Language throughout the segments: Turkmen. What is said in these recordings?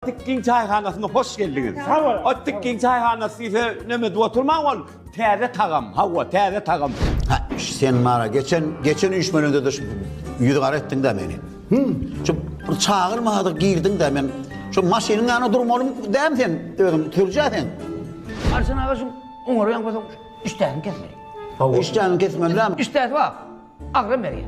Atdyk giň çaýhanasyna hoş geldiňiz. Sag bol. Atdyk giň çaýhanasy diýse näme edip oturmaň ol täze tagam. Hawa, täze tagam. Ha, sen mara geçen, geçen üýşmeliňde-de şu ýüzi gara etdiň-dä meni. Hü, şu bir çagyrmadyk girdiň-dä men. Şu maşynyň ýanyna durmaly däm sen özüň, sürjä sen. Arslan aga şu oňary ýaňkasam işdäniň kesmeli. Hawa. Işdäniň kesmeli däm. Işdäsi bar. Agram berýär.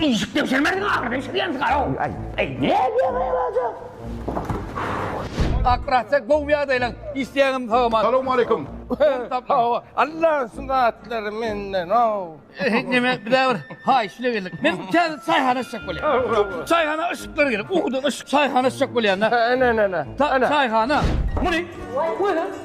Işik degşirmezdiň agyr degşirýän sigara-ow. Eý, ne edýäň eý bajak? Akrasa gowy ýagdaýlaň, işleýäňem salam-a. Salowmaleýkum. Hawa, Alla şu zatlary menden-ow. Neme, bizä bir haýyş ile geldik. Men bu täze çaýhana açjak bolýan. Çaýhana yşyklar gerek, ukudan yşyk çaýhana açjak bolýan-da. Ene-ne-ne. Çaýhana. Muny, goýaý.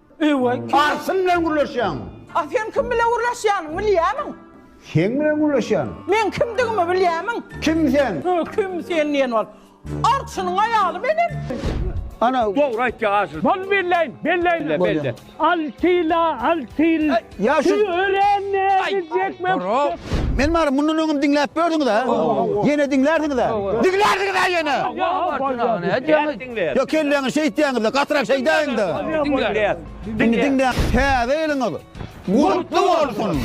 Öe Karsym bilen gürleşýäňmi? A sen kim bilen gürleşýäniň bilýämiň? Seň bilen gürleşýän. Meň kimdigimi bilýämiň? Kim sen? Öe kim sen diýen bol. Arçynyň aýaly menem. Ana dogry aýtýa aşyr. Bol belleýin belleýin. Belle. Altyla altyl. Ýa şu örände gitjekmi? Men bary mundan öňem diňläp gördüňiz-ä. Ýene diňlärsiňiz-ä. Diňlärsiňiz-ä ýene. Wah wah wah. Nädýäňiz? Ýa kelläňi şeýtýäňizde gatyrak şeýdäýiňda. Diňläýäs. Indi diňläň. Täze ýylyňyz gutly bolsun!